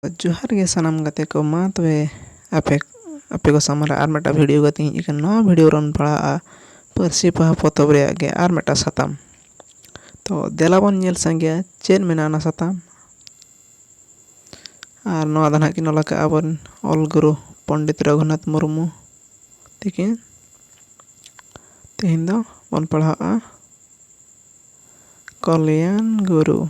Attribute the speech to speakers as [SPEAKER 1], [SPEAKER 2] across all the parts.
[SPEAKER 1] ᱡᱚᱦᱟᱨ ᱜᱮ ᱥᱟᱱᱟᱢ ᱜᱟᱛᱮ ᱠᱚ ᱢᱟ ᱛᱚᱵᱮ ᱟᱯᱮ ᱟᱯᱮ ᱠᱚ ᱥᱟᱢᱟᱝ ᱨᱮ ᱟᱨ ᱢᱤᱫᱴᱟᱝ ᱵᱷᱤᱰᱤᱭᱳ ᱠᱟᱛᱮᱧ ᱦᱮᱡ ᱟᱠᱟᱱᱟ ᱱᱚᱣᱟ ᱵᱷᱤᱰᱤᱭᱳ ᱨᱮᱢ ᱯᱟᱲᱦᱟᱜᱼᱟ ᱯᱟᱹᱨᱥᱤ ᱯᱚᱦᱟ ᱯᱚᱛᱚᱵ ᱨᱮᱭᱟᱜ ᱜᱮ ᱟᱨ ᱢᱤᱫᱴᱟᱝ ᱥᱟᱛᱟᱢ ᱛᱚ ᱫᱮᱞᱟ ᱵᱚᱱ ᱧᱮᱞ ᱥᱟᱸᱜᱮᱭᱟ ᱪᱮᱫ ᱢᱮᱱᱟᱜᱼᱟ ᱚᱱᱟ ᱥᱟᱛᱟᱢ ᱟᱨ ᱱᱚᱣᱟ ᱫᱚ ᱦᱟᱸᱜ ᱠᱤᱱ ᱚᱞ ᱠᱟᱜᱼᱟ ᱟᱵᱚᱨᱮᱱ ᱚᱞ ᱜᱩᱨᱩ ᱯᱚᱱᱰᱤᱛ ᱨᱚᱜᱷᱩᱱᱟᱛᱷ ᱢᱩᱨᱢᱩ ᱛᱤᱠᱤᱱ ᱛᱮᱦᱮᱧ ᱫᱚ ᱵᱚᱱ ᱯᱟᱲᱦᱟᱜᱼᱟ ᱠᱚᱞᱭᱟᱱ ᱜᱩᱨᱩ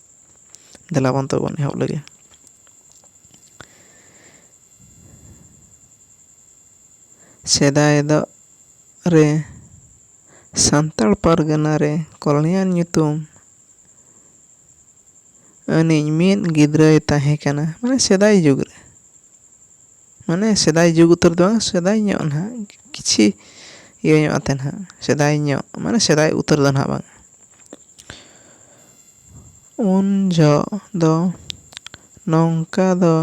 [SPEAKER 1] ᱫᱮᱞᱟ ᱵᱚᱱ ᱛᱚᱵᱮ ᱵᱚᱱ ᱮᱦᱚᱵ ᱞᱮᱜᱮ ᱥᱮᱫᱟᱭ ᱫᱚ ᱨᱮ ᱥᱟᱱᱛᱟᱲ ᱯᱟᱨᱜᱟᱱᱟ ᱨᱮ ᱠᱚᱞᱚᱱᱤᱭᱟᱞ ᱧᱩᱛᱩᱢ ᱟᱹᱱᱤᱡ ᱢᱤᱫ ᱜᱤᱫᱽᱨᱟᱹᱭ ᱛᱟᱦᱮᱸ ᱠᱟᱱᱟ ᱢᱟᱱᱮ ᱥᱮᱫᱟᱭ ᱡᱩᱜᱽ ᱨᱮ ᱢᱟᱱᱮ ᱥᱮᱫᱟᱭ ᱡᱩᱜᱽ ᱩᱛᱟᱹᱨ ᱫᱚ ᱵᱟᱝ ᱥᱮᱫᱟᱭ ᱧᱚᱜ ᱱᱟᱦᱟᱜ ᱠᱤᱪᱷᱤ ᱤᱭᱟᱹ ᱧᱚᱜ ᱟᱛᱮ ᱱᱟᱦᱟᱜ ᱥᱮᱫᱟᱭ ᱧᱚᱜ ᱢᱟᱱᱮ ᱥᱮᱫᱟᱭ ᱩᱛᱟᱹᱨ ᱫᱚ ᱱᱟᱦᱟᱜ ᱵᱟᱝ ᱩᱱ ᱡᱷᱚᱜ ᱫᱚ ᱱᱚᱝᱠᱟ ᱫᱚ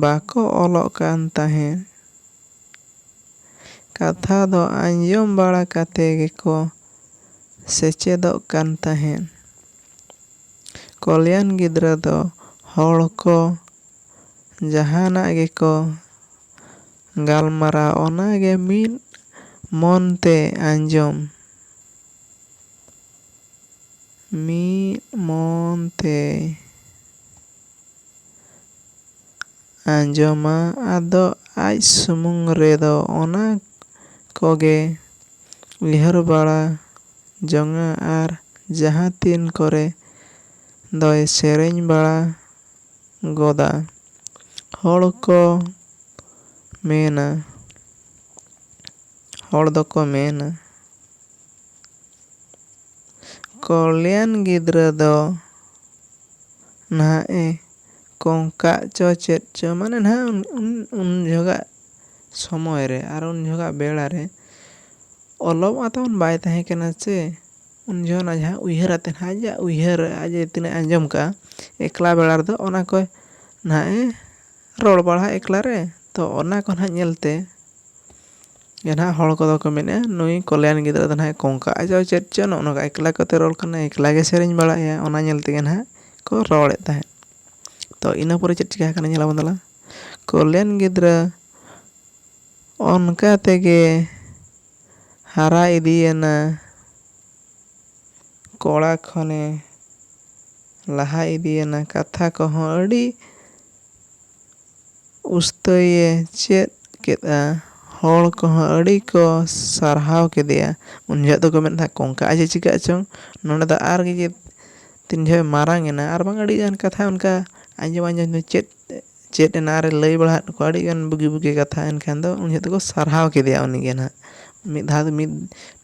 [SPEAKER 1] ᱵᱟᱠᱚ ᱚᱞᱚᱜ ᱠᱟᱱ ᱛᱟᱦᱮᱸᱫ᱾ ᱠᱟᱛᱷᱟ ᱫᱚ ᱟᱸᱡᱚᱢ ᱵᱟᱲᱟ ᱠᱟᱛᱮ ᱜᱮᱠᱚ ᱥᱮᱪᱮᱫᱚᱜ ᱠᱟᱱ ᱛᱟᱦᱮᱸᱫ᱾ ᱠᱚᱞᱭᱟᱱ ᱜᱤᱫᱽᱨᱟᱹ ᱫᱚ ᱦᱚᱲ ᱠᱚ ᱡᱟᱦᱟᱱᱟᱜ ᱜᱮᱠᱚ ᱜᱟᱞᱢᱟᱨᱟᱣ ᱚᱱᱟ ᱜᱮ ᱢᱤᱫ ᱢᱚᱱ ᱛᱮ ᱟᱸᱡᱚᱢ᱾ ᱢᱤᱫ ᱢᱚᱱ ᱛᱮᱭ ᱟᱸᱡᱚᱢᱟ ᱟᱫᱚ ᱟᱡ ᱥᱩᱢᱩᱝ ᱨᱮᱫᱚ ᱚᱱᱟ ᱠᱚᱜᱮ ᱩᱭᱦᱟᱹᱨ ᱵᱟᱲᱟ ᱡᱚᱝᱟ ᱟᱨ ᱡᱟᱦᱟᱸ ᱛᱤᱱ ᱠᱚᱨᱮ ᱫᱚᱭ ᱥᱮᱨᱮᱧ ᱵᱟᱲᱟ ᱜᱚᱫᱟ᱾ ᱦᱚᱲ ᱠᱚ ᱢᱮᱱᱟ ᱦᱚᱲ ᱫᱚᱠᱚ ᱢᱮᱱᱟ᱾ ᱠᱚᱞᱭᱟᱱ ᱜᱤᱫᱽᱨᱟᱹ ᱫᱚ ᱱᱟᱦᱟᱜ ᱮ ᱠᱚᱝᱠᱟᱜ ᱪᱚ ᱪᱮᱫ ᱪᱚ ᱢᱟᱱᱮ ᱱᱟᱦᱟᱜ ᱩᱱ ᱡᱚᱦᱚᱜᱟᱜ ᱥᱚᱢᱚᱭ ᱨᱮ ᱟᱨ ᱩᱱ ᱡᱚᱦᱚᱜᱟᱜ ᱵᱮᱲᱟ ᱨᱮ ᱚᱞᱚᱜ ᱢᱟ ᱛᱟᱵᱚᱱ ᱵᱟᱭ ᱛᱟᱦᱮᱸ ᱠᱟᱱᱟ ᱥᱮ ᱩᱱ ᱡᱚᱦᱚᱜ ᱨᱮᱱᱟᱜ ᱡᱟᱦᱟᱸ ᱩᱭᱦᱟᱹᱨ ᱟᱛᱮᱫ ᱱᱟᱦᱟᱜ ᱟᱡ ᱟᱜ ᱩᱭᱦᱟᱹᱨ ᱟᱡ ᱮ ᱛᱤᱱᱟᱹᱜ ᱮ ᱟᱸᱡᱚᱢ ᱠᱟᱜᱼᱟ ᱮᱠᱞᱟ ᱵᱮᱲᱟ ᱨᱮᱫᱚ ᱚᱱᱟ ᱠᱚᱭ ᱱᱟᱦᱟᱜ ᱮ ᱨᱚᱲ ᱵᱟᱲᱟᱭᱟ ᱮᱠᱞᱟ ᱨᱮ ᱛᱚ ᱚᱱᱟ ᱠᱚ ᱱᱟᱦᱟᱜ ᱧᱮᱞᱛᱮ ᱜᱮ ᱱᱟᱦᱟᱜ ᱦᱚᱲ ᱠᱚᱫᱚ ᱠᱚ ᱢᱮᱱᱮᱜᱼᱟ ᱱᱩᱭ ᱠᱚᱞᱭᱟᱱ ᱜᱤᱫᱽᱨᱟᱹ ᱫᱚ ᱱᱟᱦᱟᱜ ᱠᱚᱝᱠᱟ ᱟᱡ ᱫᱚ ᱪᱮᱫ ᱪᱚ ᱱᱚᱜᱼᱚ ᱱᱚᱝᱠᱟ ᱮᱠᱞᱟ ᱠᱟᱛᱮ ᱨᱚᱲ ᱠᱟᱱᱟᱭ ᱮᱠᱞᱟ ᱜᱮ ᱥᱮᱨᱮᱧ ᱵᱟᱲᱟᱭᱮᱜᱼᱟᱭ ᱚᱱᱟ ᱧᱮᱞ ᱛᱮᱜᱮ ᱱᱟᱦᱟᱜ ᱠᱚ ᱨᱚᱲᱮᱜ ᱛᱟᱦᱮᱸᱜ ᱛᱚ ᱤᱱᱟᱹ ᱯᱚᱨᱮ ᱪᱮᱫ ᱪᱤᱠᱟᱹ ᱠᱟᱱᱟ ᱧᱮᱞ ᱟᱵᱚᱱ ᱫᱮᱞᱟ ᱠᱚᱞᱭᱟᱱ ᱜᱤᱫᱽᱨᱟᱹ ᱚᱱᱠᱟ ᱛᱮᱜᱮ ᱦᱟᱨᱟ ᱤᱫᱤᱭᱮᱱᱟ ᱠᱚᱲᱟ ᱠᱷᱚᱱᱮ ᱞᱟᱦᱟ ᱤᱫᱤᱭᱮᱱᱟ ᱠᱟᱛᱷᱟ ᱠᱚᱦᱚᱸ ᱟᱹᱰᱤ ᱩᱥᱛᱟᱹᱭ ᱮ ᱪᱮᱫ ᱠᱮᱫᱼᱟ᱾ ᱦᱚᱲ ᱠᱚᱦᱚᱸ ᱟᱹᱰᱤ ᱠᱚ ᱥᱟᱨᱦᱟᱣ ᱠᱮᱫᱮᱭᱟ᱾ ᱩᱱ ᱡᱚᱦᱚᱜ ᱫᱚᱠᱚ ᱢᱮᱱᱮᱫ ᱛᱟᱦᱮᱸᱫ ᱠᱚᱝᱠᱟ ᱟᱡ ᱮ ᱪᱤᱠᱟᱹᱜ ᱪᱚᱝ ᱱᱚᱰᱮ ᱫᱚ ᱟᱨ ᱜᱮ ᱡᱮ ᱛᱤᱱ ᱡᱚᱦᱚᱜ ᱮ ᱢᱟᱨᱟᱝ ᱮᱱᱟ ᱟᱨ ᱵᱟᱝ ᱟᱹᱰᱤ ᱜᱟᱱ ᱠᱟᱛᱷᱟ ᱚᱱᱠᱟ ᱟᱸᱡᱚᱢ ᱟᱸᱡᱚᱢ ᱛᱮ ᱪᱮᱫ ᱪᱮᱫ ᱮᱱᱟ ᱟᱨ ᱮ ᱞᱟᱹᱭ ᱵᱟᱲᱟ ᱟᱫ ᱠᱚᱣᱟ ᱟᱹᱰᱤ ᱜᱟᱱ ᱵᱩᱜᱤ ᱵᱩᱜᱤ ᱠᱟᱛᱷᱟ ᱮᱱᱠᱷᱟᱱ ᱫᱚ ᱩᱱ ᱡᱚᱦᱚᱜ ᱫᱚᱠᱚ ᱥᱟᱨᱦᱟᱣ ᱠᱮᱫᱮᱭᱟ ᱩᱱᱤ ᱜᱮ ᱱᱟᱦᱟᱜ ᱢᱤᱫ ᱫᱷᱟᱣ ᱫᱚ ᱢᱤᱫ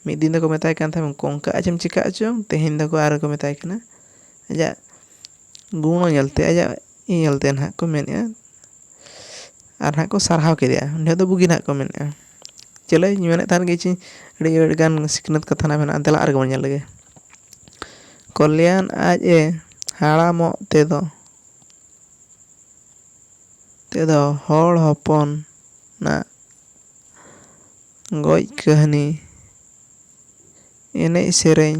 [SPEAKER 1] ᱢᱤᱫ ᱫᱤᱱ ᱫᱚᱠᱚ ᱢᱮᱛᱟᱭ ᱠᱟᱱ ᱛᱟᱦᱮᱸᱫ ᱠᱚᱝᱠᱟ ᱟᱡ ᱮᱢ ᱪᱤᱠᱟᱹᱜ ᱪᱚᱝ ᱛᱮᱦᱮᱧ ᱫᱚᱠᱚ ᱟᱨ ᱠᱚ ᱢᱮᱛᱟᱭ ᱠᱟᱱᱟ ᱟᱡᱟᱜ ᱜᱩᱱᱳ ᱧᱮᱞᱛᱮ ᱟᱡᱟᱜ ᱤᱭᱟᱹ ᱧᱮᱞᱛᱮ ᱱᱟᱦᱟᱜ ᱠᱚ ᱢᱮᱱᱮᱜᱼᱟ ᱟᱨ ᱱᱟᱦᱟᱜ ᱠᱚ ᱥᱟᱨᱦᱟᱣ ᱠᱮᱫᱮᱭᱟ ᱩᱱᱤ ᱦᱚᱲ ᱫᱚ ᱵᱩᱜᱤ ᱱᱟᱦᱟᱜ ᱠᱚ ᱢᱮᱱᱮᱜᱼᱟ ᱪᱚᱞᱚ ᱤᱧ ᱢᱮᱱᱮᱫ ᱛᱟᱦᱮᱱ ᱜᱮ ᱪᱚ ᱟᱹᱰᱤ ᱟᱹᱰᱤ ᱜᱟᱱ ᱥᱤᱠᱷᱱᱟᱹᱛ ᱠᱟᱛᱷᱟ ᱱᱟᱦᱟᱜ ᱢᱮᱱᱟᱜᱼᱟ ᱫᱮᱞᱟ ᱟᱨ ᱜᱮᱵᱚᱱ ᱧᱮᱞ ᱞᱮᱜᱮ ᱠᱚᱞᱭᱟᱱ ᱟᱡ ᱮ ᱦᱟᱲᱟᱢᱚᱜ ᱛᱮᱫᱚ ᱛᱮᱫᱚ ᱦᱚᱲ ᱦᱚᱯᱚᱱ ᱟᱜ ᱜᱚᱡ ᱠᱟᱹᱦᱱᱤ ᱮᱱᱮᱡ ᱥᱮᱨᱮᱧ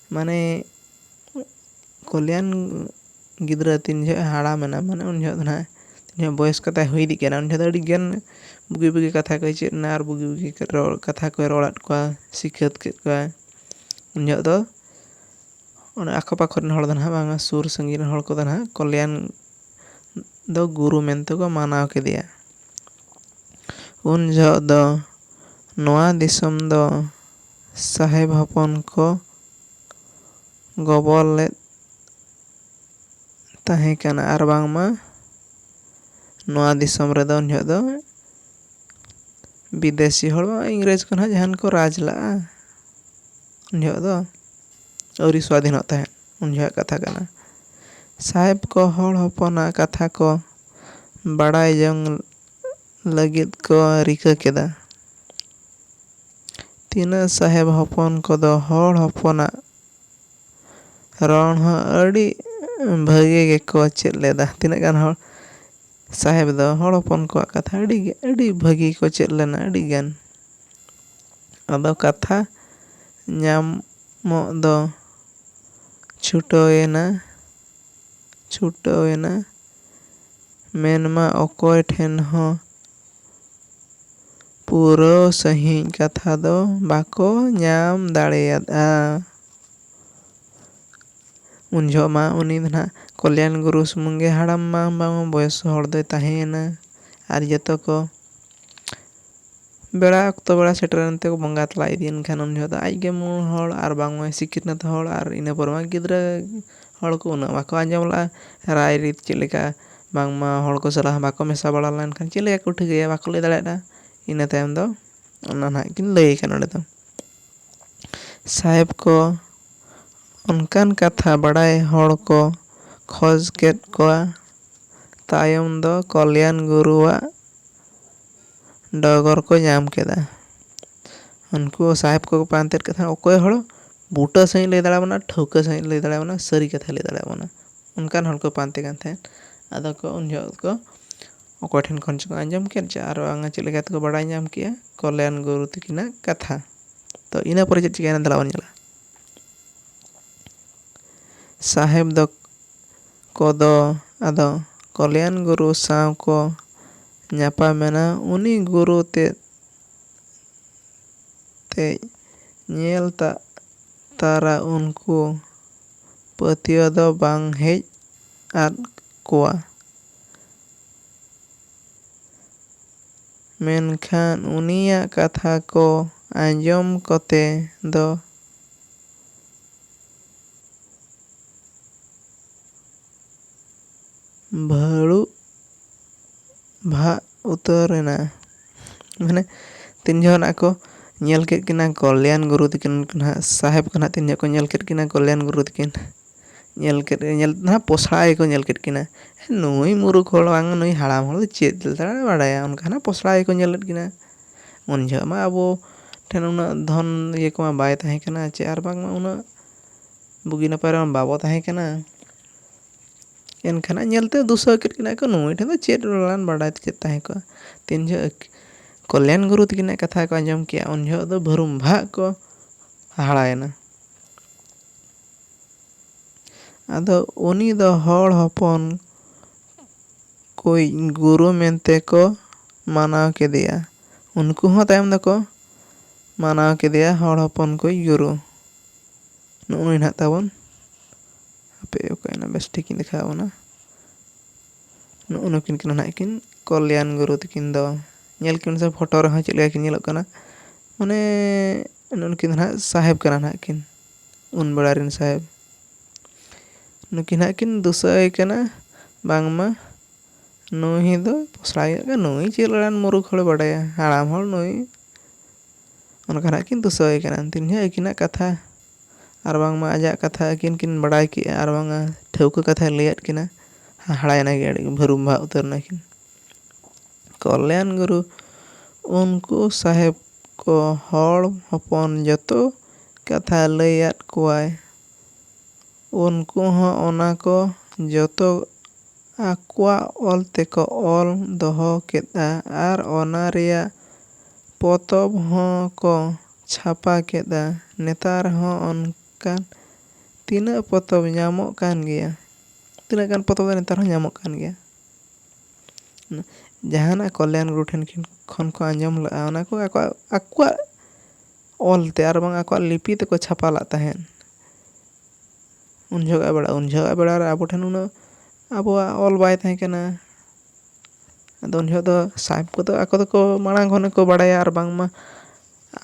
[SPEAKER 1] ᱢᱟᱱᱮ ᱠᱚᱞᱭᱟᱱ ᱜᱤᱫᱽᱨᱟᱹ ᱛᱤᱱ ᱡᱚᱦᱚᱜ ᱦᱟᱲᱟᱢᱮᱱᱟ ᱢᱟᱱᱮ ᱩᱱ ᱡᱚᱦᱚᱜ ᱫᱚ ᱱᱟᱦᱟᱜ ᱛᱤᱱ ᱡᱚᱦᱚᱜ ᱵᱚᱭᱮᱥ ᱠᱚ ᱛᱟᱭ ᱦᱩᱭ ᱤᱫᱤᱜ ᱠᱟᱱᱟ ᱩᱱ ᱡᱚᱦᱚᱜ ᱫᱚ ᱟᱹᱰᱤ ᱜᱟᱱ ᱵᱩᱜᱤ ᱵᱩᱜᱤ ᱠᱟᱛᱷᱟ ᱠᱚᱭ ᱪᱮᱫ ᱮᱱᱟ ᱟᱨ ᱵᱩᱜᱤ ᱵᱩᱜᱤ ᱨᱚᱲ ᱠᱟᱛᱷᱟ ᱠᱚᱭ ᱨᱚᱲᱟᱫ ᱠᱚᱣᱟ ᱥᱤᱠᱷᱟᱹᱛ ᱠᱮᱫ ᱠᱚᱣᱟᱭ ᱩᱱ ᱡᱚᱦᱚᱜ ᱫᱚ ᱚᱱᱟ ᱟᱠᱚ ᱯᱟᱠᱚ ᱨᱮᱱ ᱦᱚᱲ ᱫᱚ ᱱᱟᱦᱟᱜ ᱵᱟᱝᱟ ᱥᱩᱨ ᱥᱟᱺᱜᱤᱧ ᱨᱮᱱ ᱦᱚᱲ ᱠᱚᱫᱚ ᱱᱟᱦᱟᱜ ᱠᱚᱞᱭᱟᱱ ᱫᱚ ᱜᱩᱨᱩ ᱢᱮᱱᱛᱮ ᱠᱚ ᱢᱟᱱᱟᱣ ᱠᱮᱫᱮᱭᱟ ᱩᱱ ᱡᱚᱦᱚᱜ ᱫᱚ ᱱᱚᱣᱟ ᱫᱤᱥᱚᱢ ᱫᱚ ᱥᱟᱦᱮᱵᱽ ᱦᱚᱯᱚᱱ ᱠᱚ ᱜᱚᱵᱚᱞ ᱞᱮᱫ ᱛᱟᱦᱮᱸ ᱠᱟᱱᱟ ᱟᱨ ᱵᱟᱝᱢᱟ ᱱᱚᱣᱟ ᱫᱤᱥᱚᱢ ᱨᱮᱫᱚ ᱩᱱ ᱡᱚᱦᱚᱜ ᱫᱚ ᱵᱤᱫᱮᱥᱤ ᱦᱚᱲ ᱵᱟᱝ ᱤᱝᱨᱮᱡᱽ ᱠᱚ ᱱᱟᱦᱟᱜ ᱡᱟᱦᱟᱱ ᱠᱚ ᱨᱟᱡᱽ ᱞᱟᱜᱼᱟ ᱩᱱ ᱡᱚᱦᱚᱜ ᱫᱚ ᱟᱹᱣᱨᱤ ᱥᱟᱹᱫᱷᱤᱱᱚᱜ ᱛᱟᱦᱮᱸᱫ ᱩᱱ ᱡᱚᱦᱚᱜ ᱠᱟᱛᱷᱟ ᱠᱟᱱᱟ ᱥᱟᱦᱮᱵᱽ ᱠᱚ ᱦᱚᱲ ᱦᱚᱯᱚᱱᱟᱜ ᱠᱟᱛᱷᱟ ᱠᱚ ᱵᱟᱲᱟᱭ ᱡᱚᱝ ᱞᱟᱹᱜᱤᱫ ᱠᱚ ᱨᱤᱠᱟᱹ ᱠᱮᱫᱟ ᱛᱤᱱᱟᱹᱜ ᱥᱟᱦᱮᱵᱽ ᱦᱚᱯᱚᱱ ᱠᱚᱫᱚ ᱦᱚᱲ ᱦᱚᱯᱚᱱᱟᱜ ᱨᱚᱲ ᱦᱚᱸ ᱟᱹᱰᱤ ᱵᱷᱟᱹᱜᱤ ᱜᱮᱠᱚ ᱪᱮᱫ ᱞᱮᱫᱟ᱾ ᱛᱤᱱᱟᱹᱜ ᱜᱟᱱ ᱦᱚᱲ ᱥᱟᱦᱮᱵᱽ ᱫᱚ ᱦᱚᱲ ᱦᱚᱯᱚᱱ ᱠᱚᱣᱟᱜ ᱠᱟᱛᱷᱟ ᱟᱹᱰᱤ ᱜᱮ ᱟᱹᱰᱤ ᱵᱷᱟᱹᱜᱤ ᱠᱚ ᱪᱮᱫ ᱞᱮᱱᱟ ᱟᱹᱰᱤ ᱜᱟᱱ᱾ ᱟᱫᱚ ᱠᱟᱛᱷᱟ ᱧᱟᱢᱚᱜ ᱫᱚ ᱪᱷᱩᱴᱟᱹᱣᱮᱱᱟ ᱪᱷᱩᱴᱟᱹᱣᱮᱱᱟ ᱢᱮᱱᱢᱟ ᱚᱠᱚᱭ ᱴᱷᱮᱱ ᱦᱚᱸ᱾ ᱯᱩᱨᱟᱹᱣ ᱥᱟᱺᱦᱤᱡ ᱠᱟᱛᱷᱟ ᱫᱚ ᱵᱟᱠᱚ ᱧᱟᱢ ᱫᱟᱲᱮᱭᱟᱫᱼᱟ᱾ ᱩᱱ ᱡᱚᱦᱚᱜ ᱢᱟ ᱩᱱᱤ ᱫᱚ ᱱᱷᱟᱜ ᱠᱚᱞᱭᱟᱱ ᱜᱩᱨᱩ ᱥᱩᱢᱩᱝ ᱜᱮ ᱦᱟᱲᱟᱢ ᱢᱟ ᱵᱟᱝ ᱵᱚᱭᱚᱥ ᱦᱚᱲ ᱫᱚᱭ ᱛᱟᱦᱮᱸᱭᱮᱱᱟ ᱟᱨ ᱡᱚᱛᱚ ᱠᱚ ᱵᱮᱲᱟ ᱚᱠᱛᱚ ᱵᱮᱲᱟ ᱥᱮᱴᱮᱨᱮᱱ ᱛᱮᱠᱚ ᱵᱚᱸᱜᱟ ᱛᱟᱞᱟ ᱤᱫᱤᱭᱮᱱ ᱠᱷᱟᱱ ᱩᱱ ᱡᱚᱦᱚᱜ ᱫᱚ ᱟᱡ ᱜᱮ ᱢᱩᱬ ᱦᱚᱲ ᱟᱨ ᱵᱟᱝ ᱢᱟᱭ ᱥᱤᱠᱷᱱᱟᱹᱛ ᱦᱚᱲ ᱟᱨ ᱤᱱᱟᱹ ᱯᱚᱨᱮ ᱢᱟ ᱜᱤᱫᱽᱨᱟᱹ ᱦᱚᱲ ᱠᱚ ᱩᱱᱟᱹᱜ ᱵᱟᱠᱚ ᱟᱸᱡᱚᱢ ᱞᱟᱜᱼᱟ ᱨᱟᱭ ᱨᱤᱛ ᱪᱮᱫ ᱞᱮᱠᱟ ᱵᱟᱝᱢᱟ ᱦᱚᱲ ᱠᱚ ᱥᱟᱞᱟᱜ ᱦᱚᱸ ᱵᱟᱠᱚ ᱢᱮᱥᱟ ᱵᱟᱲᱟ ᱞᱮᱱᱠᱷᱟᱱ ᱪᱮᱫ ᱞᱮᱠᱟ ᱠᱚ ᱴᱷᱤᱠᱟᱹᱭᱟ ᱵᱟᱠᱚ ᱞᱟᱹᱭ ᱫᱟᱲᱮᱭᱟᱫᱟ ᱤᱱᱟᱹ ᱛᱟᱭᱚᱢ ᱫᱚ ᱚᱱᱟ ᱱᱟᱦᱟᱜ ᱠᱤᱱ ᱞᱟᱹᱭ ᱠᱟᱱᱟ ᱱᱚᱰᱮ ᱫᱚ ᱥᱟᱦᱮᱵᱽ ᱠᱚ ᱚᱱᱠᱟᱱ ᱠᱟᱛᱷᱟ ᱵᱟᱲᱟᱭ ᱦᱚᱲ ᱠᱚ ᱠᱷᱚᱡᱽ ᱠᱮᱫ ᱠᱚᱣᱟ ᱛᱟᱭᱚᱢ ᱫᱚ ᱠᱚᱞᱭᱟᱱ ᱜᱩᱨᱩᱣᱟᱜ ᱰᱚᱜᱚᱨ ᱠᱚ ᱧᱟᱢ ᱠᱮᱫᱟ᱾ ᱩᱱᱠᱩ ᱥᱟᱦᱮᱵᱽ ᱠᱚ ᱠᱚ ᱯᱟᱱᱛᱮ ᱠᱮᱫ ᱠᱷᱟᱱ ᱚᱠᱚᱭ ᱦᱚᱲ ᱵᱩᱴᱟᱹ ᱥᱟᱺᱦᱤᱡ ᱞᱟᱹᱭ ᱫᱟᱲᱮᱭᱟᱵᱚᱱᱟ ᱟᱨ ᱴᱷᱟᱹᱣᱠᱟᱹ ᱥᱟᱺᱦᱤᱡ ᱞᱟᱹᱭ ᱫᱟᱲᱮᱭᱟᱵᱚᱱᱟ ᱥᱟᱹᱨᱤ ᱠᱟᱛᱷᱟᱭ ᱞᱟᱹᱭ ᱫᱟᱲᱮᱭᱟᱵᱚᱱᱟ ᱚᱱᱠᱟᱱ ᱦᱚᱲ ᱠᱚ ᱯᱟᱱᱛᱮ ᱠᱟᱱ ᱛᱟᱦᱮᱸᱫ ᱟᱫᱚ ᱠᱚ ᱩᱱ ᱡᱚᱦᱚᱜ ᱠᱚ ᱚᱠᱚᱭ ᱴᱷᱮᱱ ᱠᱷᱚᱱ ᱪᱚᱠᱚ ᱟᱸᱡᱚᱢ ᱠᱮᱫ ᱪᱚ ᱟᱨ ᱵᱟᱝᱟ ᱪᱮᱫ ᱞᱮᱠᱟ ᱛᱮᱠᱚ ᱵᱟᱲᱟᱭ ᱧᱟᱢ ᱠᱮᱫᱼᱟ ᱠᱚᱞᱭᱟᱱ ᱜᱩᱨᱩ ᱛᱟᱹᱠᱤᱱᱟᱜ ᱠᱟᱛᱷᱟ ᱛᱚ ᱤᱱᱟᱹ ᱯᱚᱨᱮ ᱪᱮᱫ ᱪᱤᱠᱟᱹᱭᱮᱱᱟ ᱫᱮᱞᱟ ᱵᱚᱱ ᱧᱮᱞᱟ ᱥᱟᱦᱮᱵᱽ ᱫᱚ ᱠᱚ ᱫᱚ ᱟᱫᱚ ᱠᱚᱞᱭᱟᱱ ᱜᱩᱨᱩ ᱥᱟᱶ ᱠᱚ ᱧᱟᱯᱟᱢ ᱮᱱᱟ᱾ ᱩᱱᱤ ᱜᱩᱨᱩ ᱛᱮᱫ ᱛᱮᱭ ᱧᱮᱞ ᱛᱟᱜ ᱛᱟᱨᱟ ᱩᱱᱠᱩ ᱯᱟᱹᱛᱭᱟᱹᱣ ᱫᱚ ᱵᱟᱝ ᱦᱮᱡ ᱟᱫ ᱠᱚᱣᱟ᱾ ᱢᱮᱱᱠᱷᱟᱱ ᱩᱱᱤᱭᱟᱜ ᱠᱟᱛᱷᱟ ᱠᱚ ᱟᱸᱡᱚᱢ ᱠᱚᱛᱮ ᱫᱚ᱾ ᱵᱷᱟᱹᱲᱩᱜ ᱵᱷᱟᱜ ᱩᱛᱟᱹᱨ ᱮᱱᱟ ᱢᱟᱱᱮ ᱛᱤᱱ ᱡᱚᱦᱚᱜ ᱱᱟᱜ ᱠᱚ ᱧᱮᱞ ᱠᱮᱫ ᱠᱤᱱᱟ ᱠᱚᱞᱭᱟᱱ ᱜᱩᱨᱩ ᱛᱟᱹᱠᱤᱱ ᱩᱱᱠᱤᱱ ᱱᱟᱜ ᱥᱟᱦᱮᱵᱽ ᱠᱚ ᱱᱟᱜ ᱛᱤᱱ ᱡᱚᱦᱚᱜ ᱠᱚ ᱧᱮᱞ ᱠᱮᱫ ᱠᱤᱱᱟ ᱠᱚᱞᱭᱟᱱ ᱜᱩᱨᱩ ᱛᱟᱹᱠᱤᱱ ᱧᱮᱞ ᱠᱮᱫ ᱧᱮᱞ ᱛᱮᱫᱚ ᱱᱟᱜ ᱯᱚᱥᱲᱟ ᱜᱮᱠᱚ ᱧᱮᱞ ᱠᱮᱫ ᱠᱤᱱᱟ ᱱᱩᱭ ᱢᱩᱨᱩᱠᱷ ᱦᱚᱲ ᱵᱟᱝ ᱱᱩᱭ ᱦᱟᱲᱟᱢ ᱦᱚᱲ ᱫᱚ ᱪᱮᱫ ᱞᱮᱠᱟᱭ ᱵᱟᱲᱟᱭᱟ ᱚᱱᱠᱟ ᱱᱟᱜ ᱯᱚᱥᱲᱟ ᱜᱮᱠᱚ ᱧᱮᱞᱮᱫ ᱠᱤᱱᱟ ᱩᱱ ᱡᱚᱦᱚᱜ ᱢᱟ ᱟᱵᱚ ᱴᱷᱮᱱ ᱩᱱᱟᱹᱜ ᱫᱷᱚᱱ ᱤᱭᱟᱹ ᱠᱚᱢᱟ ᱵᱟᱭ ᱛᱟᱦᱮᱸ ᱠᱟᱱᱟ ᱪᱮ ᱟᱨ ᱵᱟᱝᱢᱟ ᱩᱱᱟᱹᱜ ᱵᱩᱜᱤ ᱱᱟᱯᱟᱭ ᱨᱮᱢᱟ ᱵᱟᱵᱚ ᱛᱟᱦᱮᱸ ᱠᱟᱱᱟ ᱮᱱᱠᱷᱟᱱ ᱦᱟᱸᱜ ᱧᱮᱞᱛᱮ ᱫᱩᱥᱨᱟᱹ ᱠᱮᱫ ᱠᱤᱱᱟᱹ ᱠᱚ ᱱᱩᱭ ᱴᱷᱮᱱ ᱫᱚ ᱪᱮᱫ ᱨᱚᱲᱟᱱ ᱵᱟᱰᱟᱭ ᱛᱮ ᱪᱮᱫ ᱛᱟᱦᱮᱸ ᱠᱚᱜᱼᱟ ᱛᱤᱱ ᱡᱚᱦᱚᱜ ᱠᱚᱞᱭᱟᱱ ᱜᱩᱨᱩ ᱛᱟᱹᱠᱤᱱᱟᱜ ᱠᱟᱛᱷᱟ ᱠᱚ ᱟᱸᱡᱚᱢ ᱠᱮᱜᱼᱟ ᱩᱱ ᱡᱚᱦᱚᱜ ᱫᱚ ᱵᱷᱩᱨᱩᱢ ᱵᱷᱟᱜ ᱠᱚ ᱦᱟᱦᱟᱲᱟᱭᱮᱱᱟ ᱟᱫᱚ ᱩᱱᱤ ᱫᱚ ᱦᱚᱲ ᱦᱚᱯᱚᱱ ᱠᱚᱭᱤᱡ ᱜᱩᱨᱩ ᱢᱮᱱᱛᱮ ᱠᱚ ᱢᱟᱱᱟᱣ ᱠᱮᱫᱮᱭᱟ᱾ ᱩᱱᱠᱩ ᱦᱚᱸ ᱛᱟᱭᱚᱢ ᱫᱚᱠᱚ ᱢᱟᱱᱟᱣ ᱠᱮᱫᱮᱭᱟ ᱦᱚᱲ ᱦᱚᱯᱚᱱ ᱠᱚᱭᱤᱡ ᱜᱩᱨᱩ᱾ ᱱᱚᱜᱼᱚᱭ ᱱᱟᱦᱟᱜ ᱛᱟᱵᱚᱱ ᱦᱟᱯᱮ ᱚᱠᱟᱭᱮᱱᱟ ᱵᱮᱥ ᱴᱷᱤᱠ ᱤᱧ ᱫᱮᱠᱷᱟᱣ ᱟᱵᱚᱱᱟ᱾ ᱱᱚᱜᱼᱚ ᱱᱩᱠᱤᱱ ᱠᱟᱱᱟ ᱱᱟᱦᱟᱜ ᱠᱤᱱ ᱠᱚᱞᱭᱟᱱ ᱜᱩᱨᱩ ᱛᱟᱹᱠᱤᱱ ᱫᱚ᱾ ᱧᱮᱞ ᱠᱤᱱ ᱥᱮ ᱯᱷᱳᱴᱳ ᱨᱮᱦᱚᱸ ᱪᱮᱫ ᱞᱮᱠᱟ ᱠᱤᱱ ᱧᱮᱞᱚᱜ ᱠᱟᱱᱟ᱾ ᱢᱟᱱᱮ ᱱᱩᱠᱤᱱ ᱫᱚ ᱱᱟᱦᱟᱜ ᱥᱟᱦᱮᱵᱽ ᱠᱟᱱᱟ ᱱᱟᱦᱟᱜ ᱠᱤᱱ᱾ ᱩᱱ ᱵᱮᱲᱟ ᱨᱮᱱ ᱥᱟᱦᱮᱵᱽ ᱱᱩᱠᱤᱱ ᱦᱟᱸᱜ ᱠᱤᱱ ᱫᱤᱥᱟᱹ ᱟᱭ ᱠᱟᱱᱟ ᱵᱟᱝᱢᱟ ᱱᱩᱭ ᱫᱚ ᱯᱚᱥᱲᱟ ᱜᱮᱭᱟ ᱠᱚ ᱱᱩᱭ ᱪᱮᱫ ᱞᱮᱠᱟᱱ ᱢᱩᱨᱩᱠᱷ ᱦᱚᱲᱮ ᱵᱟᱰᱟᱭᱟ ᱦᱟᱲᱟᱢ ᱦᱚᱲ ᱱᱩᱭ ᱚᱱᱠᱟ ᱦᱟᱸᱜ ᱠᱤᱱ ᱫᱤᱥᱟᱹ ᱟᱭ ᱠᱟᱱᱟ ᱛᱤᱱ ᱡᱚᱦᱚᱜ ᱟᱹᱠᱤᱱᱟᱜ ᱠᱟᱛᱷᱟ ᱟᱨ ᱵᱟᱝᱢᱟ ᱟᱡᱟᱜ ᱠᱟᱛᱷᱟ ᱟᱹᱠᱤᱱ ᱠᱤᱱ ᱵᱟᱲᱟᱭ ᱠᱮᱜᱼᱟ ᱟᱨ ᱵᱟᱝᱟ ᱴᱷᱟᱹᱣᱠᱟᱹ ᱠᱟᱛᱷᱟᱭ ᱞᱟᱹᱭᱟᱫ ᱠᱤᱱᱟ ᱦᱟᱦᱟᱲᱟᱭ ᱱᱟᱭ ᱟᱹᱰᱤ ᱜᱮ ᱵᱷᱟᱹᱨᱩᱢ ᱵᱷᱟᱜ ᱩᱛᱟᱹᱨ ᱱᱟᱹᱠᱤᱱ ᱠᱚᱞᱭᱟᱱ ᱜᱩᱨᱩ ᱩᱱᱠᱩ ᱥᱟᱦᱮᱵᱽ ᱠᱚ ᱦᱚᱲ ᱦᱚᱯᱚᱱ ᱡᱚᱛᱚ ᱠᱟᱛᱷᱟ ᱞᱟᱹᱭ ᱟᱫ ᱠᱚᱣᱟᱭ᱾ ᱩᱱᱠᱩ ᱦᱚᱸ ᱚᱱᱟ ᱠᱚ ᱡᱚᱛᱚ ᱟᱠᱚᱣᱟᱜ ᱚᱞ ᱛᱮᱠᱚ ᱚᱞ ᱫᱚᱦᱚ ᱠᱮᱫᱼᱟ ᱟᱨ ᱚᱱᱟ ᱨᱮᱭᱟᱜ ᱯᱚᱛᱚᱵ ᱦᱚᱸ ᱠᱚ ᱪᱷᱟᱯᱟ ᱠᱮᱫᱼᱟ᱾ ᱱᱮᱛᱟᱨ ᱦᱚᱸ ᱚᱱᱠᱟᱱ ᱛᱤᱱᱟᱹᱜ ᱯᱚᱛᱚᱵ ᱧᱟᱢᱚᱜ ᱠᱟᱱ ᱜᱮᱭᱟ᱾ ᱛᱤᱱᱟᱹᱜ ᱜᱟᱱ ᱯᱚᱛᱚᱵ ᱫᱚ ᱱᱮᱛᱟᱨ ᱦᱚᱸ ᱧᱟᱢᱚᱜ ᱠᱟᱱ ᱜᱮᱭᱟ᱾ ᱡᱟᱦᱟᱱᱟᱜ ᱠᱚᱞᱭᱟᱱ ᱜᱩᱨᱩ ᱴᱷᱮᱱ ᱠᱷᱚᱱ ᱠᱚ ᱟᱸᱡᱚᱢ ᱞᱮᱫᱼᱟ ᱚᱱᱟ ᱠᱚ ᱟᱠᱚᱣᱟᱜ ᱚᱞ ᱛᱮ ᱟᱨ ᱵᱟᱝ ᱟᱠᱚᱣᱟᱜ ᱞᱤᱯᱤ ᱛᱮᱠᱚ ᱪᱷᱟᱯᱟ ᱞᱟᱜ ᱛᱟᱦᱮᱸᱫ ᱩᱱ ᱡᱚᱦᱚᱜᱼᱟᱜ ᱵᱮᱲᱟ ᱩᱱ ᱡᱚᱦᱚᱜᱼᱟᱜ ᱵᱮᱲᱟ ᱨᱮ ᱟᱵᱚ ᱴᱷᱮᱱ ᱩᱱᱟᱹᱜ ᱟᱵᱚᱣᱟᱜ ᱚᱞ ᱵᱟᱭ ᱛᱟᱦᱮᱸ ᱠᱟᱱᱟ ᱟᱫᱚ ᱩᱱ ᱡᱚᱦᱚᱜ ᱫᱚ ᱥᱟᱦᱮᱵᱽ ᱠᱚᱫᱚ ᱟᱠᱚ ᱫᱚᱠᱚ ᱢᱟᱲᱟᱝ ᱠᱷᱚᱱ ᱜᱮᱠᱚ ᱵᱟᱲᱟᱭᱟ ᱟᱨ ᱵᱟᱝᱢᱟ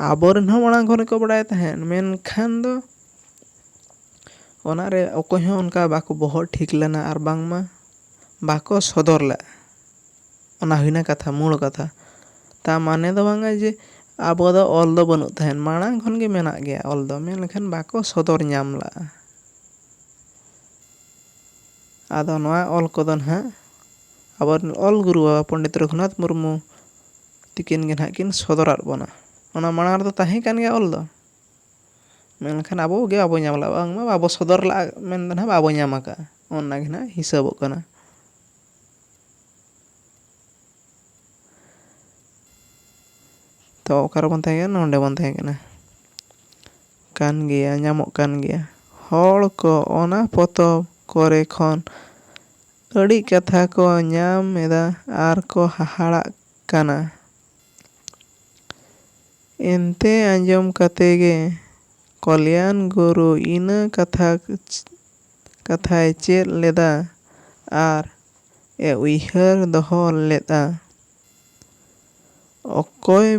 [SPEAKER 1] ᱟᱵᱚ ᱨᱮᱱ ᱦᱚᱸ ᱢᱟᱲᱟᱝ ᱠᱷᱚᱱ ᱜᱮᱠᱚ ᱵᱟᱲᱟᱭ ᱛᱟᱦᱮᱸᱫ ᱢᱮᱱᱠᱷᱟᱱ ᱫᱚ ᱚᱱᱟᱨᱮ ᱚᱠᱚᱭ ᱦᱚᱸ ᱚᱱᱠᱟ ᱵᱟᱠᱚ ᱵᱚᱦᱚᱜ ᱴᱷᱤᱠ ᱞᱮᱱᱟ ᱟᱨ ᱵᱟᱝᱢᱟ ᱵᱟᱠᱚ ᱥᱚᱫᱚᱨ ᱞᱮᱫᱼᱟ ᱚᱱᱟ ᱦᱩᱭᱱᱟ ᱠᱟᱛᱷᱟ ᱢᱩᱬ ᱠᱟᱛᱷᱟ ᱛᱟᱨ ᱢᱟᱱᱮ ᱫᱚ ᱵᱟᱝᱟ ᱡᱮ ᱟᱵᱚ ᱫᱚ ᱚᱞ ᱫᱚ ᱵᱟᱹᱱᱩᱜ ᱛᱟᱦᱮᱸᱫ ᱢᱟᱲᱟᱝ ᱠᱷᱚᱱ ᱜᱮ ᱢᱮᱱᱟᱜ ᱜᱮᱭᱟ ᱚᱞ ᱫᱚ ᱢᱮᱱᱠᱷᱟᱱ ᱵᱟᱠᱚ ᱥᱚᱫᱚᱨ ᱧᱟᱢ ᱞᱟᱜᱼᱟ ᱟᱫᱚ ᱱᱚᱣᱟ ᱚᱞ ᱠᱚᱫᱚ ᱱᱟᱦᱟᱜ ᱟᱵᱚ ᱨᱮᱱ ᱚᱞ ᱜᱩᱨᱩ ᱵᱟᱵᱟ ᱯᱚᱱᱰᱤᱛ ᱨᱟᱹᱜᱷᱩᱱᱟᱛᱷ ᱢᱩᱨᱢᱩ ᱛᱤᱠᱤᱱ ᱜᱮ ᱱᱟᱦᱟᱜ ᱠᱤᱱ ᱥᱚᱫᱚᱨᱟᱜ ᱵᱚᱱᱟ ᱚᱱᱟ ᱢᱟᱲᱟᱝ ᱨᱮᱫᱚ ᱛᱟᱦᱮᱸ ᱠᱟᱱ ᱜᱮᱭᱟ ᱚᱞ ᱫᱚ ᱢᱮᱱᱠᱷᱟᱱ ᱟᱵᱚ ᱜᱮ ᱵᱟᱵᱚ ᱧᱟᱢ ᱞᱟᱜᱼᱟ ᱵᱟᱝᱢᱟ ᱵᱟᱵᱚ ᱥᱚᱫᱚᱨ ᱞᱟᱜᱼᱟ ᱢᱮᱱᱫᱚ ᱱᱟᱦᱟᱜ ᱵᱟᱵᱚ ᱧᱟᱢ ᱠᱟᱜᱼᱟ ᱚᱱᱟ ᱜᱮ ᱱᱟᱦᱟᱜ ᱦᱤᱥᱟᱹᱵᱚᱜ ᱠᱟᱱᱟ ᱛᱚ ᱚᱠᱟ ᱨᱮᱵᱚᱱ ᱛᱟᱦᱮᱸ ᱠᱟᱱᱟ ᱱᱚᱸᱰᱮ ᱵᱚᱱ ᱛᱟᱦᱮᱸ ᱠᱟᱱᱟ ᱠᱟᱱ ᱜᱮᱭᱟ ᱧᱟᱢᱚᱜ ᱠᱟᱱ ᱜᱮᱭᱟ ᱦᱚᱲ ᱠᱚ ᱚᱱᱟ ᱯᱚᱛᱚᱵ ᱠᱚᱨᱮ ᱠᱷᱚᱱ ᱟᱹᱰᱤ ᱠᱟᱛᱷᱟ ᱠᱚ ᱧᱟᱢ ᱮᱫᱟ ᱟᱨ ᱠᱚ ᱦᱟᱦᱟᱲᱟᱜ ᱠᱟᱱᱟ ᱮᱱᱛᱮ ᱟᱸᱡᱚᱢ ᱠᱟᱛᱮ ᱜᱮ ᱠᱚᱞᱭᱟᱱ ᱜᱩᱨᱩ ᱤᱱᱟᱹ ᱠᱟᱛᱷᱟ ᱠᱟᱛᱷᱟᱭ ᱪᱮᱫ ᱞᱮᱫᱟ ᱟᱨ ᱮ ᱩᱭᱦᱟᱹᱨ ᱫᱚᱦᱚ ᱞᱮᱫᱼᱟ᱾ ᱚᱠᱚᱭ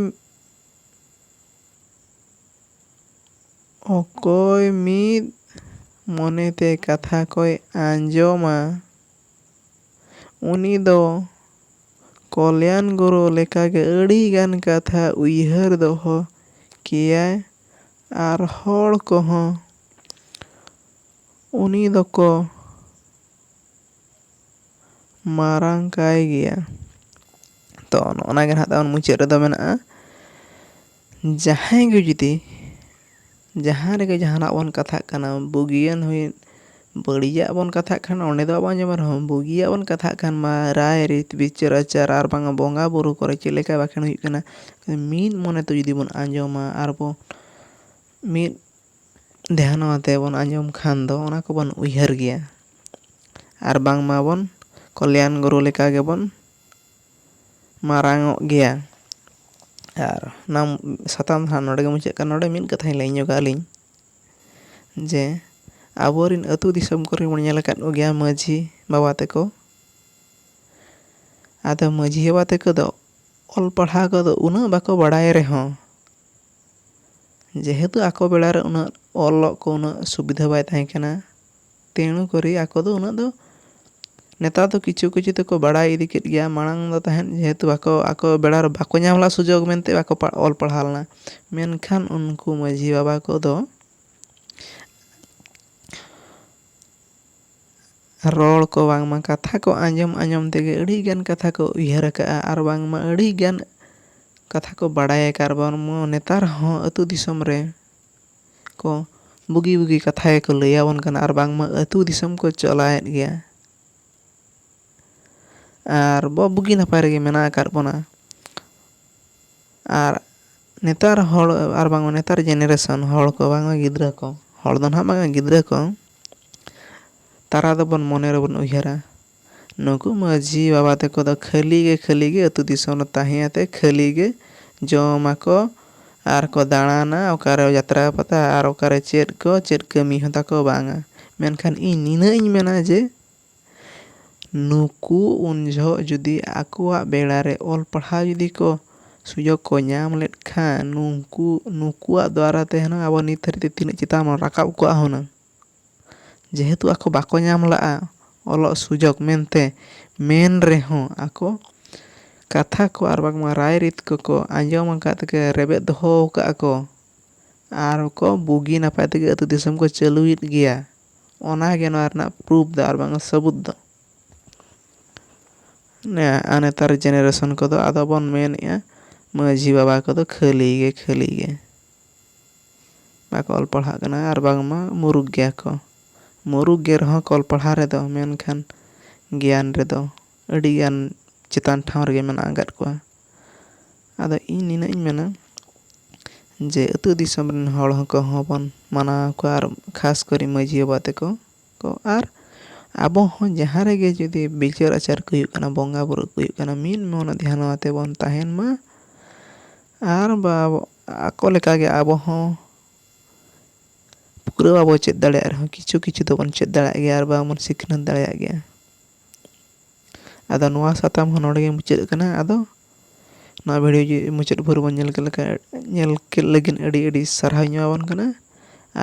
[SPEAKER 1] ᱚᱠᱚᱭ ᱢᱤᱫ ᱢᱚᱱᱮ ᱛᱮ ᱠᱟᱛᱷᱟ ᱠᱚᱭ ᱟᱸᱡᱚᱢᱟ ᱩᱱᱤ ᱫᱚ ᱠᱚᱞᱭᱟᱱ ᱜᱩᱨᱩ ᱞᱮᱠᱟ ᱜᱮ ᱟᱹᱰᱤ ᱜᱟᱱ ᱠᱟᱛᱷᱟ ᱩᱭᱦᱟᱹᱨ ᱫᱚᱦᱚ ᱠᱮᱭᱟᱭ ᱟᱨ ᱦᱚᱲ ᱠᱚᱦᱚᱸ ᱩᱱᱤ ᱫᱚᱠᱚ ᱢᱟᱨᱟᱝ ᱠᱟᱭ ᱜᱮᱭᱟ᱾ ᱛᱚ ᱱᱚᱜᱼᱚ ᱱᱟ ᱜᱮ ᱱᱟᱦᱟᱜ ᱛᱟᱵᱚᱱ ᱢᱩᱪᱟᱹᱫ ᱨᱮᱫᱚ ᱢᱮᱱᱟᱜᱼᱟ ᱡᱟᱦᱟᱸᱭ ᱜᱮ ᱡᱩᱫᱤ ᱡᱟᱦᱟᱸ ᱨᱮᱜᱮ ᱡᱟᱦᱟᱱᱟᱜ ᱵᱚᱱ ᱠᱟᱛᱷᱟᱜ ᱠᱟᱱᱟ ᱵᱩᱜᱤᱭᱟᱱ ᱦᱩᱭᱮᱱ ᱵᱟᱹᱲᱤᱡᱟᱜ ᱵᱚᱱ ᱠᱟᱛᱷᱟᱜ ᱠᱷᱟᱱ ᱚᱸᱰᱮ ᱫᱚ ᱵᱟᱵᱚᱱ ᱟᱸᱡᱚᱢᱟ ᱨᱮᱦᱚᱸ ᱵᱩᱜᱤᱭᱟᱜ ᱵᱚᱱ ᱠᱟᱛᱷᱟᱜ ᱠᱷᱟᱱ ᱢᱟ ᱨᱟᱭ ᱨᱤᱛ ᱵᱤᱪᱟᱹᱨ ᱟᱪᱟᱨ ᱟᱨ ᱵᱟᱝᱟ ᱵᱚᱸᱜᱟ ᱵᱳᱨᱳ ᱠᱚᱨᱮ ᱪᱮᱫ ᱞᱮᱠᱟ ᱵᱟᱠᱷᱮᱬ ᱦᱩᱭᱩᱜ ᱠᱟᱱᱟ ᱢᱤᱫ ᱢᱚᱱᱮ ᱛᱮ ᱡᱩᱫᱤ ᱵᱚᱱ ᱟᱸᱡᱚᱢᱟ ᱟᱨ ᱵᱚ ᱢᱤᱫ ᱫᱷᱮᱭᱟᱱᱚᱜ ᱟᱛᱮ ᱵᱚᱱ ᱟᱸᱡᱚᱢ ᱠᱷᱟᱱ ᱫᱚ ᱚᱱᱟ ᱠᱚᱵᱚᱱ ᱩᱭᱦᱟᱹᱨ ᱜᱮᱭᱟ ᱟᱨ ᱵᱟᱝᱢᱟ ᱵᱚᱱ ᱠᱚᱞᱭᱟᱱ ᱜᱩᱨᱩ ᱞᱮᱠᱟ ᱜᱮᱵᱚᱱ ᱢᱟᱨᱟᱝᱚᱜ ᱜᱮᱭᱟ ᱟᱨ ᱱᱚᱣᱟ ᱥᱟᱛᱟᱢ ᱦᱟᱸᱜ ᱱᱚᱰᱮ ᱜᱮ ᱢᱩᱪᱟᱹᱫ ᱠᱟᱱᱟ ᱱᱚᱰᱮ ᱢᱤᱫ ᱠᱟᱛᱷᱟᱧ ᱞᱟᱹᱭ ᱧᱚᱜᱟ ᱟᱹᱞᱤᱧ ᱡᱮ ᱟᱵᱚ ᱨᱮᱱ ᱟᱛᱳ ᱫᱤᱥᱚᱢ ᱠᱚᱨᱮ ᱵᱚᱱ ᱧᱮᱞ ᱟᱠᱟᱫ ᱠᱚᱜᱮᱭᱟ ᱢᱟᱹᱡᱷᱤ ᱵᱟᱵᱟ ᱛᱟᱠᱚ ᱟᱫᱚ ᱢᱟᱹᱡᱷᱤ ᱵᱟᱵᱟ ᱛᱟᱠᱚ ᱫᱚ ᱚᱞ ᱯᱟᱲᱦᱟᱣ ᱠᱚᱫᱚ ᱩᱱᱟᱹᱜ ᱵᱟᱠᱚ ᱵᱟᱲᱟᱭ ᱨᱮᱦᱚᱸ ᱡᱮᱦᱮᱛᱩ ᱟᱠᱚ ᱵᱮᱲᱟ ᱨᱮ ᱩᱱᱟᱹᱜ ᱚᱞᱚᱜ ᱠᱚ ᱩᱱᱟᱹᱜ ᱥᱩᱵᱤᱫᱷᱟ ᱵᱟᱭ ᱛᱟᱦᱮᱸ ᱠᱟᱱᱟ ᱛᱮᱬᱩ ᱠᱚᱨᱮ ᱟᱠᱚ ᱫᱚ ᱩᱱᱟᱹᱜ ᱫᱚ ᱱᱮᱛᱟᱨ ᱫᱚ ᱠᱤᱪᱷᱩ ᱠᱤᱪᱷᱩ ᱛᱮᱠᱚ ᱵᱟᱲᱟᱭ ᱤᱫᱤ ᱠᱮᱫ ᱜᱮᱭᱟ ᱢᱟᱲᱟᱝ ᱫᱚ ᱛᱟᱦᱮᱸᱫ ᱡᱮᱦᱮᱛᱩ ᱵᱟᱠᱚ ᱟᱠᱚ ᱵᱮᱲᱟ ᱨᱮ ᱵᱟᱠᱚ ᱧᱟᱢ ᱞᱮᱫᱼᱟ ᱥᱩᱡᱳᱜᱽ ᱢᱮᱱᱛᱮ ᱵᱟᱠᱚ ᱚᱞ ᱯᱟᱲᱦᱟᱣ ᱞᱮᱱᱟ ᱢᱮᱱᱠᱷᱟᱱ ᱩᱱᱠᱩ ᱢᱟᱹᱡᱷᱤ ᱵᱟᱵᱟ ᱠᱚᱫᱚ ᱨᱚᱲ ᱠᱚ ᱵᱟᱝᱢᱟ ᱠᱟᱛᱷᱟ ᱠᱚ ᱟᱸᱡᱚᱢ ᱟᱸᱡᱚᱢ ᱛᱮᱜᱮ ᱟᱹᱰᱤ ᱜᱟᱱ ᱠᱟᱛᱷᱟ ᱠᱚ ᱩᱭᱦᱟᱹᱨ ᱟᱠᱟᱫᱼᱟ ᱟᱨ ᱵᱟᱝᱢᱟ ᱟᱹᱰᱤ ᱜᱟᱱ ᱠᱟᱛᱷᱟ ᱠᱚ ᱵᱟᱲᱟᱭ ᱟᱠᱟᱫᱼᱟ ᱟᱨ ᱵᱟᱝᱢᱟ ᱱᱮᱛᱟᱨ ᱦᱚᱸ ᱟᱹᱛᱩ ᱫᱤᱥᱚᱢ ᱨᱮ ᱠᱚ ᱵᱩᱜᱤ ᱵᱩᱜᱤ ᱠᱟᱛᱷᱟ ᱜᱮᱠᱚ ᱞᱟᱹᱭ ᱟᱵᱚᱱ ᱠᱟᱱᱟ ᱟᱨ ᱵᱟᱝᱢᱟ ᱟᱹᱛᱩ ᱫᱤᱥᱚᱢ ᱠᱚ ᱪᱟᱞᱟᱣᱮᱫ ᱜᱮᱭᱟ ᱟᱨ ᱵᱚ ᱵᱩᱜᱤ ᱱᱟᱯᱟᱭ ᱨᱮᱜᱮ ᱢᱮᱱᱟᱜ ᱟᱠᱟᱫ ᱵᱚᱱᱟ ᱟᱨ ᱱᱮᱛᱟᱨ ᱦᱚᱲ ᱟᱨ ᱵᱟᱝᱢᱟ ᱱᱮᱛᱟᱨ ᱡᱮᱱᱟᱨᱮᱥᱚᱱ ᱦᱚᱲ ᱠᱚ ᱵᱟᱝᱢᱟ ᱜᱤᱫᱽᱨᱟᱹ ᱠᱚ ᱦᱚᱲ ᱫᱚ ᱱᱟᱦᱟᱜ ᱵᱟᱝᱟ ᱜᱤᱫᱽᱨᱟᱹ ᱠᱚ ᱛᱟᱨᱟ ᱫᱚᱵᱚᱱ ᱢᱚᱱᱮ ᱨᱮᱵᱚᱱ ᱩᱭᱦᱟᱹᱨᱟ ᱱᱩᱠᱩ ᱢᱟᱹᱡᱷᱤ ᱵᱟᱵᱟ ᱛᱟᱠᱚ ᱫᱚ ᱠᱷᱟᱹᱞᱤ ᱜᱮ ᱠᱷᱟᱹᱞᱤ ᱜᱮ ᱟᱹᱛᱩ ᱫᱤᱥᱚᱢ ᱨᱮ ᱛᱟᱦᱮᱸ ᱠᱟᱛᱮᱫ ᱠᱷᱟᱹᱞᱤ ᱜᱮ ᱡᱚᱢ ᱟᱠᱚ ᱟᱨ ᱠᱚ ᱫᱟᱬᱟᱱᱟ ᱚᱠᱟᱨᱮ ᱡᱟᱛᱨᱟ ᱯᱟᱛᱟ ᱟᱨ ᱚᱠᱟᱨᱮ ᱪᱮᱫ ᱠᱚ ᱪᱮᱫ ᱠᱟᱹᱢᱤ ᱦᱚᱸ ᱛᱟᱠᱚ ᱵᱟᱝᱟ ᱢᱮᱱᱠᱷᱟᱱ ᱤᱧ ᱱᱤᱱᱟᱹᱜ ᱤᱧ ᱢᱮᱱᱟ ᱡᱮ ᱱᱩᱠᱩ ᱩᱱ ᱡᱚᱦᱚᱜ ᱡᱩᱫᱤ ᱟᱠᱚᱣᱟᱜ ᱵᱮᱲᱟ ᱨᱮ ᱚᱞ ᱯᱟᱲᱦᱟᱣ ᱡᱩᱫᱤ ᱠᱚ ᱥᱩᱡᱚᱜᱽ ᱠᱚ ᱧᱟᱢ ᱞᱮᱫ ᱠᱷᱟᱱ ᱱᱩᱠᱩ ᱱᱩᱠᱩᱣᱟᱜ ᱫᱟᱨᱟᱭ ᱛᱮ ᱦᱩᱱᱟᱹᱝ ᱟᱵᱚ ᱱᱤᱛ ᱫᱷᱟᱹᱨᱤᱡ ᱛᱮ ᱛᱤᱱᱟᱹᱜ ᱪᱮᱛᱟᱱ ᱵᱚᱱ ᱨᱟᱠᱟᱵ ᱠᱚᱜᱼᱟ ᱦᱩᱱᱟᱹᱝ ᱡᱮᱦᱮᱛᱩ ᱟᱠᱚ ᱵᱟᱠᱚ ᱧᱟᱢ ᱞᱟᱜᱼᱟ ᱚᱞᱚᱜ ᱥᱩᱡᱚᱜᱽ ᱢᱮᱱᱛᱮ ᱢᱮᱱ ᱨᱮᱦᱚᱸ ᱟᱠᱚ ᱠᱟᱛᱷᱟ ᱠᱚ ᱟᱨ ᱵᱟᱝᱢᱟ ᱨᱟᱭ ᱨᱤᱛ ᱠᱚᱠᱚ ᱟᱸᱡᱚᱢ ᱟᱠᱟᱫ ᱛᱮᱠᱚ ᱨᱮᱵᱮᱫ ᱫᱚᱦᱚ ᱟᱠᱟᱫᱼᱟ ᱠᱚ ᱟᱨ ᱠᱚ ᱵᱩᱜᱤ ᱱᱟᱯᱟᱭ ᱛᱮᱜᱮ ᱟᱛᱳ ᱫᱤᱥᱚᱢ ᱠᱚ ᱪᱟᱹᱞᱩᱭᱮᱫ ᱜᱮᱭᱟ ᱚᱱᱟ ᱜᱮ ᱱᱚᱣᱟ ᱨᱮᱱᱟᱜ ᱯᱨᱩᱯᱷ ᱫᱚ ᱟᱨ ᱵᱟᱝ ᱥᱟᱹᱵᱩᱫ ᱫᱚ ᱟᱨ ᱱᱮᱛᱟᱨ ᱡᱮᱱᱟᱨᱮᱥᱚᱱ ᱠᱚᱫᱚ ᱟᱫᱚ ᱵᱚᱱ ᱢᱮᱱᱮᱜᱼᱟ ᱢᱟᱹᱡᱷᱤ ᱵᱟᱵᱟ ᱠᱚᱫᱚ ᱠᱷᱟᱹᱞᱤ ᱜᱮ ᱠᱷᱟᱹᱞᱤ ᱜᱮ ᱵᱟᱠᱚ ᱚᱞ ᱯᱟᱲᱦᱟᱜ ᱠᱟᱱᱟ ᱟᱨ ᱵᱟᱝᱢᱟ ᱢᱩᱨᱩᱠᱷ ᱜᱮᱭᱟ ᱠᱚ ᱢᱩᱨᱩᱠᱷ ᱜᱮ ᱨᱮᱦᱚᱸ ᱠᱚ ᱚᱞ ᱯᱟᱲᱦᱟᱣ ᱨᱮᱫᱚ ᱢᱮᱱᱠᱷᱟᱱ ᱜᱮᱭᱟᱱ ᱨᱮᱫᱚ ᱟᱹᱰᱤ ᱜᱟᱱ ᱪᱮᱛᱟᱱ ᱴᱷᱟᱶ ᱨᱮᱜᱮ ᱢᱮᱱᱟᱜ ᱟᱠᱟᱫ ᱠᱚᱣᱟ ᱟᱫᱚ ᱤᱧ ᱱᱤᱱᱟᱹᱜ ᱤᱧ ᱢᱮᱱᱟ ᱡᱮ ᱟᱹᱛᱩ ᱫᱤᱥᱚᱢ ᱨᱮᱱ ᱦᱚᱲ ᱠᱚᱦᱚᱸ ᱵᱚᱱ ᱢᱟᱱᱟᱣ ᱠᱚᱣᱟ ᱟᱨ ᱠᱷᱟᱥ ᱠᱚᱨᱮ ᱢᱟᱹᱡᱷᱤ ᱵᱟᱵᱟ ᱛᱟᱠᱚ ᱠᱚ ᱟᱨ ᱟᱵᱚ ᱦᱚᱸ ᱡᱟᱦᱟᱸ ᱨᱮᱜᱮ ᱡᱩᱫᱤ ᱵᱤᱪᱟᱹᱨ ᱟᱪᱟᱨ ᱠᱚ ᱦᱩᱭᱩᱜ ᱠᱟᱱᱟ ᱵᱚᱸᱜᱟ ᱵᱳᱨᱳ ᱠᱚ ᱦᱩᱭᱩᱜ ᱠᱟᱱᱟ ᱢᱤᱫ ᱢᱚᱱᱮ ᱫᱷᱮᱭᱟᱱ ᱟᱛᱮᱫ ᱵᱚᱱ ᱛᱟᱦᱮᱱ ᱢᱟ ᱟᱨ ᱵᱟᱵᱚ ᱟᱠᱚ ᱞᱮᱠᱟ ᱜᱮ ᱟᱵᱚ ᱦᱚᱸ ᱯᱩᱨᱟᱹ ᱵᱟᱵᱚ ᱪᱮᱫ ᱫᱟᱲᱮᱭᱟᱜ ᱨᱮᱦᱚᱸ ᱠᱤᱪᱷᱩ ᱠᱤᱪᱷᱩ ᱫᱚᱵᱚᱱ ᱪᱮᱫ ᱫᱟᱲᱮᱭᱟᱜ ᱜᱮᱭᱟ ᱟᱨ ᱵᱟᱝ ᱵᱚᱱ ᱥᱤᱠᱷᱱᱟᱹᱛ ᱫᱟᱲᱮᱭᱟᱜ ᱜᱮᱭᱟ ᱟᱫᱚ ᱱᱚᱣᱟ ᱥᱟᱛᱟᱢ ᱦᱚᱸ ᱱᱚᱰᱮ ᱜᱮ ᱢᱩᱪᱟᱹᱫ ᱠᱟᱱᱟ ᱟᱫᱚ ᱱᱚᱣᱟ ᱵᱷᱤᱰᱤᱭᱳ ᱡᱩᱫᱤ ᱢᱩᱪᱟᱹᱫ ᱵᱷᱳᱨ ᱵᱚᱱ ᱧᱮᱞ ᱠᱮᱫ ᱞᱮᱠᱟ ᱧᱮᱞ ᱠᱮᱫ ᱞᱟᱹᱜᱤᱫ ᱟᱹᱰᱤ ᱟᱹᱰᱤ ᱥᱟᱨᱦᱟᱣ ᱤᱧ ᱮᱢᱟᱵᱚᱱ ᱠᱟᱱᱟ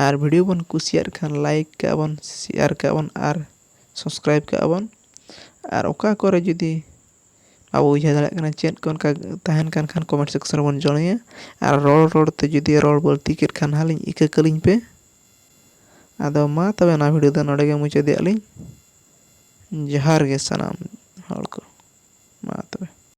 [SPEAKER 1] ᱟᱨ ᱵᱷᱤᱰᱤᱭᱳ ᱵᱚᱱ ᱠᱩᱥᱤᱭᱟᱜ ᱠᱷᱟᱱ ᱞᱟᱭᱤᱠ ᱠᱟᱜᱼᱟ ᱵᱚᱱ ᱥᱮᱭᱟᱨ ᱠᱟᱜᱼᱟ ᱵᱚᱱ ᱟᱨ ᱥᱟᱵᱥᱠᱨᱟᱭᱤᱵᱽ ᱠᱟᱜᱼᱟ ᱵᱚᱱ ᱟᱨ ᱚᱠᱟ ᱠᱚᱨᱮ ᱡᱩᱫᱤ ᱟᱵᱚ ᱵᱩᱡᱷᱟᱹᱣ ᱫᱟᱲᱮᱭᱟᱜ ᱠᱟᱱᱟ ᱪᱮᱫ ᱠᱚ ᱚᱱᱠᱟ ᱛᱟᱦᱮᱱ ᱠᱟᱱ ᱠᱷᱟᱱ ᱠᱚᱢᱮᱱᱴ ᱥᱮᱠᱥᱮᱱ ᱨᱮᱵᱚᱱ ᱡᱚᱲᱚᱭᱟ ᱟᱨ ᱨᱚᱲ ᱨᱚᱲ ᱛᱮ ᱡᱩᱫᱤ ᱨᱚᱲ ᱵᱟᱹᱲᱛᱤ ᱠᱮᱫ ᱠᱷᱟᱱ ᱦᱟᱸᱜ ᱞᱤᱧ ᱤᱠᱟᱹ ᱠᱟᱹᱞᱤᱧ ᱯᱮ ᱟᱫᱚ ᱢᱟ ᱛᱚᱵᱮ ᱱᱚᱣᱟ ᱵᱷᱤᱰᱤᱭᱳ ᱫᱚ ᱱᱚᱰᱮ ᱜᱮ ᱢᱩᱪᱟᱹᱫᱮᱜᱼᱟ ᱞᱤᱧ ᱡᱚᱦᱟᱨ ᱜᱮ ᱥᱟᱱᱟᱢ ᱦᱚᱲ ᱠᱚ ᱢᱟ ᱛᱚᱵᱮ᱾